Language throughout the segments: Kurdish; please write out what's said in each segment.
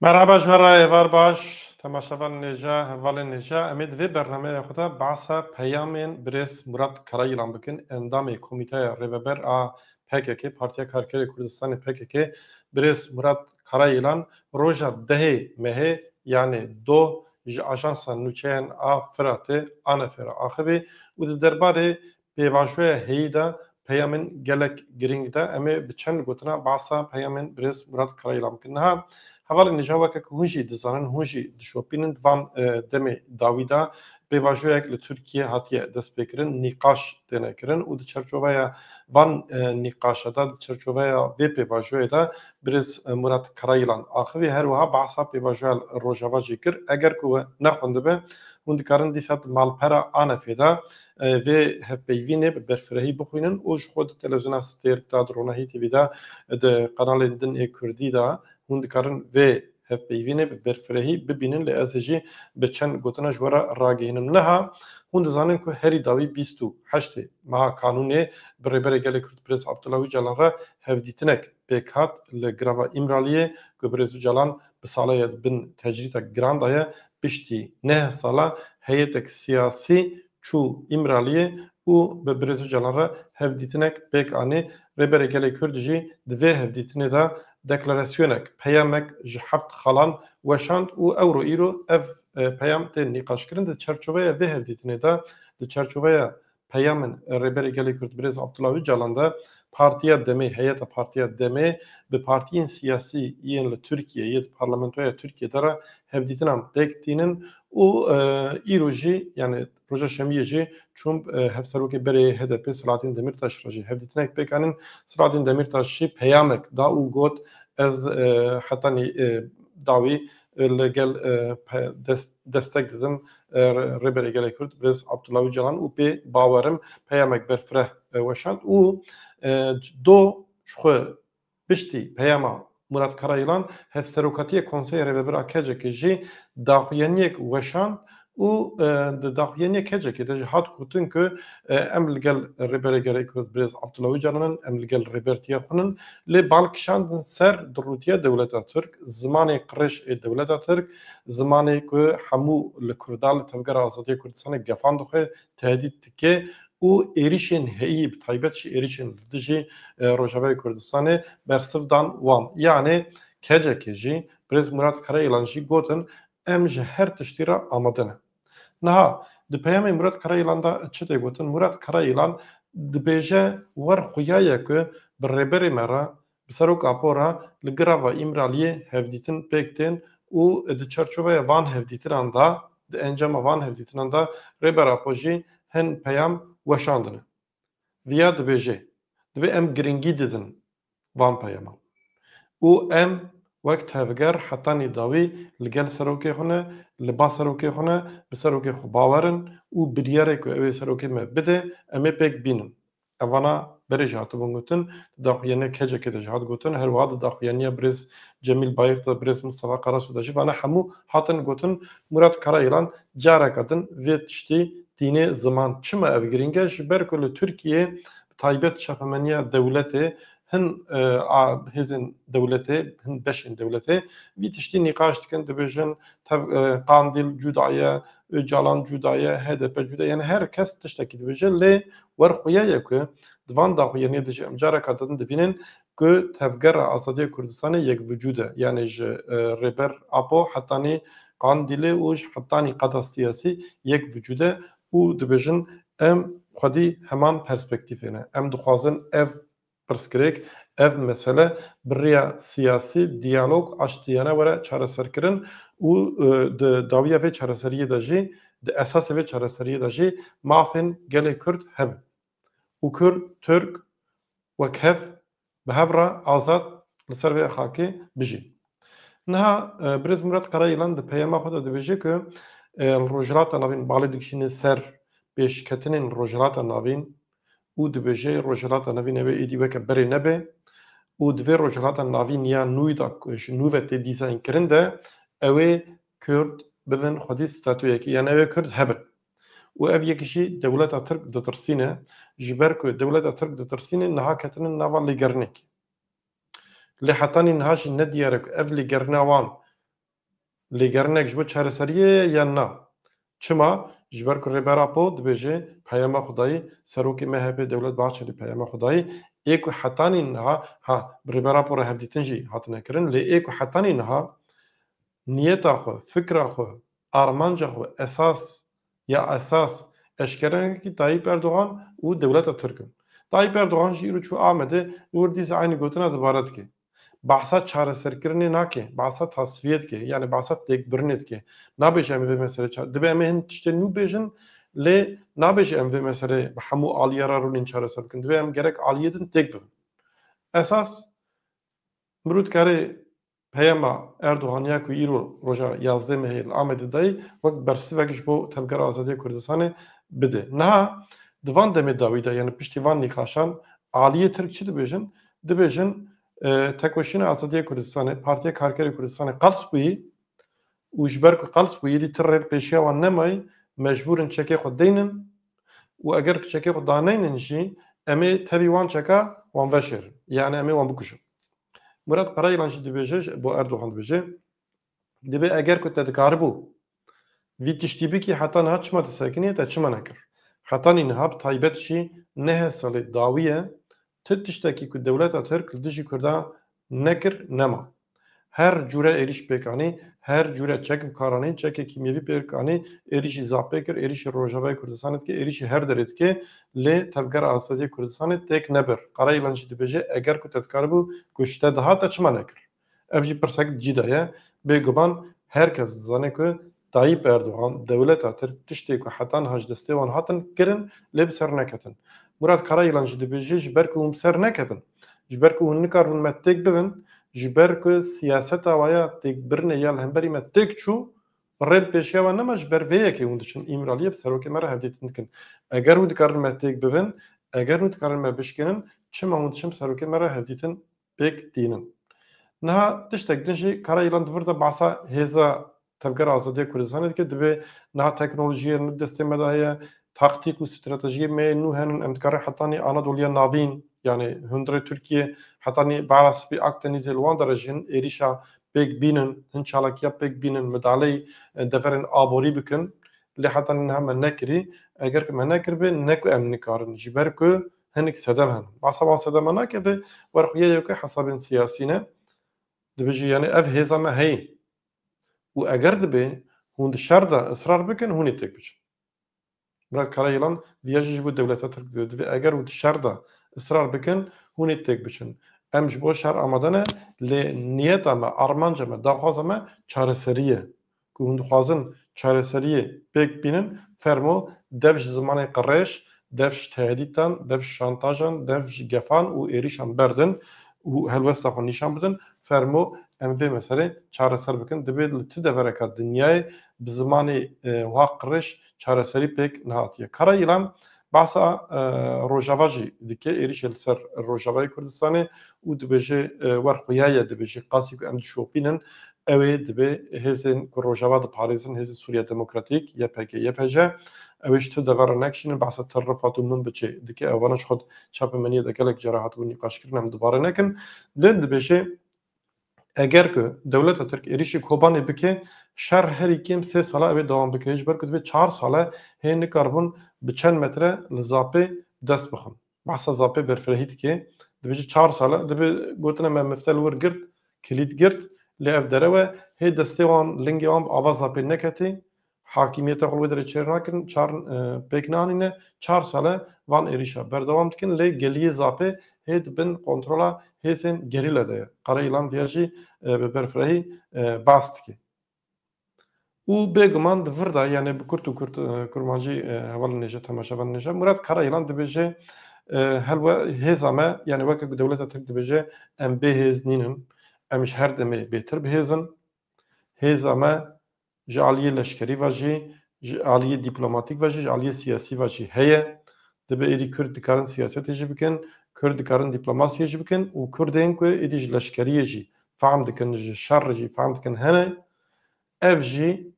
Merhaba ji me re êvar baş temaşevan nêja hevalên nêja emê di vê bernameya xwe de behsa peyamên birêz Murat Karayilan bikin endamê komîteya rêveber a pkk, Partiya Karkerê Kurdistanê, pkk, Birêz Murat Karayilan roja dehê Mehê yanê doh ji Ajansa Nûçeyên a Firatê, ANF'ê re axivî û di derbarê pêvajoya heyî de peyamên gelek girîng da. Em ê bi çend gotina behsa peyamên Birêz Murat Karayilan bikin. Niha hevalên nîja weke ku hûn jî dizanin, hûn jî dişopînin di van demê dawî de Pêvajoyek li Tirkiyê hatiye destpêkirin nîqaş têne kirin û di çerçoveya van nîqaşe de, di çerçoveya vê pêvajoyê de birêz Murat Karayilan axivî her wiha behsa pêvajoya li Rojava jî kir, Eger ku we nexwendibê hûn dikarin dîsa di malpera ANF'ê de vê hevpeyvînê bi berfirehî bixwînin û ji xwe di televîzyona Stêrk de, di Ronahî TV de, di qenalên din ê kurdî de hûn dikarin vê hevpeyvînê bi berfirehî bibînin lê ez jî bi çend gotina ji we re ragihînim. Niha hûn dizanin ku herî dawî bîst û heştê meha kanûnê bi Rêberê Gelê Kurd Birêz Abdullah Ocalan re hevdîtinek pêk hat li greva Îmraliyê ku Birêz Ocalan bi saleye di bin tecrîtek giran daye piştî neh sala heyêtek siyasî Çû Îmraliyê û bi Birêz Ocalan re hevdîtinek pêk anî. Rêberê Gelê Kurd jî di vê hevdîtinê de deklarasyonek, peyamek ji heft xalan weşand û ewro îro ev peyam tên nîqaşkirin. Di çerçoveya vê hevdîtinê de, di çerçoveya peyamên Rêberê Gelê Kurd Birêz Abdullah Ocalan de Partiya Demê, Heyeta Partiya Demê bi partiyên siyasî yên li Tirkiyeyê, di parlamentoya Tirkiyê de re hevdîtinan pêk tînin Û îro jî yanî roja şemiyê jî Trump hevserokê berê yê HDP'ê Selahattin Demîrtaş re jî hevdîtinek pêk anîn. Selahattin Demîrtaş jî peyamek da û got, Ez heta nî dawî li gel destek didim Rêberê Gelê Kurd Birêz Abdullah Ocalan û pê bawer im. Peyamek berfireh weşand û do ji xwe Piştî peyama Murat Karayılan Hevserokatiyê Konseyê Rêvebir a KCK'ê jî daxuyaniyek weşand û di daxuyaniya KCK'ê de jî hat gotin ku em li gel Rêberê Gelê Kurd Birêz Abdullah Ocalan in, em li gel Rêbertiya xwe in lê bal kişandin ser dirûtiya dewleta Tirk, zimanê qirêj ê dewleta Tirk, zimanê ku hemû li Kurda li Tevgera Azadiya Kurdistanê gefan dixwe, tehdît dike û êrîşên heyî bi taybet jî êrîşên li dijî Rojavayê Kurdistanê bersiv dan wan. Yanê kecekê jî Birêz Murat Karayilan jî gotin em ji her tiştî re amade ne. Niha di peyamê Murat Karayilan de çi tê gotin? Murat Karayilan dibêje wer xuya ye ku bi rêberê me re Bi serok Apo re li greva Îmraliyê hevdîtin pêk tên û di çerçoveya van hevdîtinan de, di encama van hevdîtinan de Rêber Apo jî hin peyam weşandine. Viya dibêje, Divê em girîngî didin van peyaman û em wek tevger hetanî dawî li gel serokê xwe ne, li ba serokê xwe ne, bi serokê xwe bawer in û biryarê ku ew ê serokê me bide em ê pêk bînin. Hevala berê jî hatibûn gotin. Di daxuyaniya KECEKê de jî hat gotin. Her wiha di daxuyaniya birêz Cemîl Bayix de, birêz Mistefa Karasu de jî vane hemû hatin gotin. Murat Karayîlan careke din vê tiştê tînê ziman. Çima ev girîng e? Ji ber ku li Tirkiyeyê bi taybet çapemeniya dewletê hin a hêzên dewletê, hin beşên dewletê vî tiştî nîqaş dikin, dibêjin tev Qandîl cuda ye, Ocalan cuda ye, hdp cuda ye yanî her kes tiştekî dibêje lê wer xuya ye ku di van daxuyaniyê de jî em careka din dibînin ku Tevgera Azadiya Kurdistanê yek vücûd e yanî ji Rêber Apo hetanî Qandîlê û ji hetanî qada siyasî yek vücûd e û dibêjin em xwedî heman perspektîfê ne. Em dixwazin ev Pirsgirêk, Ev mesele bi rêya siyasî, diyalog, aştiyane were çareserkirin û di dawiya vê çareseriyê de jî, di esasê vê çareseriyê de jî mafên gelê Kurd hebin û Kurd, Tirk wek hev bi hev re azad li ser vê xakê bijîn. Niha Birêz Murat Karayilan di peyama xwe de dibêje ku li Rojhilata Navîn balê dikişîne ser pêşketinên li Rojhilata Navîn û dibêje Rojhilata Navîn nebe êdî weke berê nebe û di vê Rojhilata Navîn ya nû de ku ji nû ve tê dîzaynkirin de ew ê Kurd bidin xwedî statuyekê yan ew ê Kurd hebin û ev yek jî dewleta Tirk ditirsîne ji ber ku dewleta Tirk ditirsîne niha ketine nava lêgerinekê. Lê hetanî niha jî nediyar e ku ev lêgerina wan Lêgerinek ji bo çareseriyê ye yan na? Çima? Ji ber ku Rêber Apo dibêje peyama Xwedayî, Serokê MHP'ê Dewlet Bahçelî peyama Xwedayî ê ku hetanî niha, ha bi Rêber Apo re hevdîtin jî hatine kirin lê ê ku hetanî niha niyeta xwe, fikra xwe, armanca xwe esas ya esas eşkere nekir Tayîp Erdogan û dewleta Tirk in. Tayîp Erdogan jî îro çû Amedê û hûrdîs eynî gotina dibare dike. Behsa çareserkirinê nake, behsa tasfiyê dike, yanî behsa têkbirinê dike. Nabêje em vê meselê çare, dibe em ê hin tiştên nû bêjin lê nabêje em vê meselê bi hemû aliyê re rûnên çareser bikin. Divê em gerek aliyê din têk bibin. Esas mirov dikare peyama Erdogan ya ku îro roja yazdeh Mehê li Amedê dayê wek bersivek ji bo Tevgera Azadiya Kurdistanê bide. Niha di van demê dawî de yanî piştî van nîqaşan aliyê Tirk çi dibêjin? Dibêjin Tekoşîna Azadiya Kurdistanê Partiya Karkerê Kurdistanê qels bûyî û ji ber ku qels bûyî dî ti rêl pêşiya wan nemayî mecbûr in çekê xwe deynin û eger ku çekê xwe daneynin jî em ê tevî wan çeka wan veşêrin. Yanî em ê wan bikujin. Murat Qarayilan jî dibêje ji bo Erdogan dibêje. Dibê eger ku te dikaribû vî tiştî bikî heta niha çima disekiniye te çima nekir? Heta nî niha bi taybet jî nehe salê dawî ye tu tiştekî ku dewleta Tirk li dijî Kurdan nekir nema. Her cûre êrîş pêk anî, her cûre çek bi kar anî, çekê kîmyevî pêk anî, êrîşî zaf pêk kir, êrîşî Rojavayê Kurdistanê dike, êrîşî her derê dike lê Tevgera Azadiyê Kurdistanê têk nebir. Karayilan jî dibêje eger ku te dikaribû kuşte diha te çima nekir? Ev jî pirsek cîda ye. Bêguman her kes dizane ku Tayyîp Erdogan, dewleta Tirk tiştê ku heta niha ji destê wan hatin kirin lê bi ser neketin. Murad Karayîlan jî dibêje ji ber ku hûn bi ser neketin, ji ber ku hûn nikaribûn me têk bibin, ji ber ku siyaseta we ya têkbirinê ya li hemberî me têk çû, rê li pêşiya wan nema ji ber vê yekê hûn diçin Îmraliyê bi serokê me re hevdîtin dikin. Eger hûn dikarin me têk bibin, eger hûn dikarin me bişkênin çima hûn diçin bi serokê me re hevdîtin pêk tînin. Niha tiştek din jî Karayilan di vir de behsa hêza Tevgera Azadiya Kurdistanê dike, dibe niha teknolojiyên nû destê me de heye, taktîk û stratejiyên me yên nû hene, em dikarin hetanî Anadoliya Navîn yanî hundirê Tirkiyê hetanî Behra Spî Akdenîzê li wan de re jî hin êrîşa pêk bînin, hin çalakiya pêk bînin, midaleyî deverên aborî bikin. Lê hetanî niha me nekirî. Eger ku me nekiribê ne ku em nikarin ji ber ku Hinek sedem hene. Behsa wan sedem me nake de wer xwe yê yo ke hesabên siyasî ne. Dibêje yanî ev hêza me heye. Û eger dibe hûn di şer de israr bikin hûnê têk biçin. Murad Karayılan diya jî ji bo dewleta Tirk divê. Divê eger û di şer de israr bikin hûnê têk biçin. Em ji bo şer amade ne lê niyeta me, armanca me, daxwaza me çareserî ye. Ku hûn dixwazin çareseriyê pêk bînin, fermo dev ji zimanê qirêj, dev ji tehdîtan, dev ji şantajan, dev ji gefan û êrîşan berdin û helwesta xwe nîşan bidin. Fermo em vê meselê çareser bikin. Divê li tu devereke dinyayê bi zimanê wiha qirêj çareserî pêk nehatiye. Kara Îlan behsa Rojava jî dike, êrîşê li ser Rojavayê Kurdistanê û dibêje wer xuya ye dibêje qasî ku em dişopînin ew ê dibê hêzên ku Rojava diparêzin Hêzê Sûriya Demokratîk, ypg, ypj, ew ê ji tu dever re nekişînin behsa Til Rifat û Min Biçê dike ew vana ji xwe çapemeniyê de gelek caran hatibûn nîqaşkirin em dubare nekin lê dibêje Eger ku dewleta Tirk êrîşî Kobanê bike, şer herî kêm sê sala ew ê dewam bike, ji ber ku divê çar sale hê nikaribûn bi çend metre li Zapê dest bixin. Behsa Zapê berfirehî dike, dibêje çar sale divê gotina me mifte li wir girt, kilît girt lê ev derewe hê destê wan, lingê wan bi ava Zapê neketê Hakîmiyeta Holwederê çêr nakin, çar pêk nanîne. Çar sal e van êrîşa berdewam dikin lê geliyê Zapê hê di bin kontrola hêzên gerîla de ye. Qarayilan vê jî bi berfirehî bas dike. Û bêguman di vir de yanê bi kurt û kurmancî heval nêje temaşe van nêje. Murat Karayilan dibêje helwe hêza me yanê weke ku dewleta Tirk dibêje em bêhêz nînin, em ji her demê bêtir bihêzin. Hêza me ji aliyê leşkerî ve jî, ji aliyê dîplomatîk ve jî, ji aliyê siyasî ve jî heye. Dibe êdî Kurd dikarin siyasetê jî bikin, Kurd dikarin dîplomasiyê jî bikin û Kurdên ku êdî ji leşkeriyê jî fehm dikin, ji şer jî fehm dikin hene. Ev jî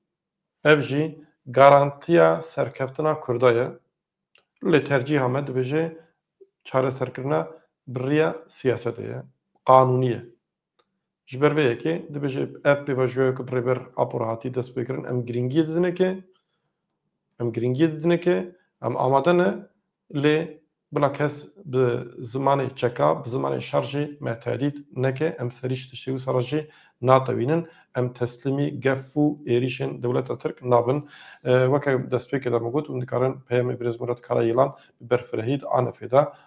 ev jî garantiya serkeftina Kurda ye. Lê tercîha me dibêje çareserkirina bi riya siyasetê ye, qanûnî ye. Ji ber vê yekê dibêje ev pêvajoya ku bi Rêber Apo hatî destpêkirin em girîngiyê didine ke em girîngiyê didine ke em amade ne lê bila kes bi zimanê çeka bi zimanê şer jî me tehdît neke em serî ji tiştê wisa re jî natewînin em teslîmî gef û êrîşên dewleta Tirk nabin weke destpêkê de min got hûn dikarin peyamê Birêz Murat Karayêlan bi berfirehî di anefê de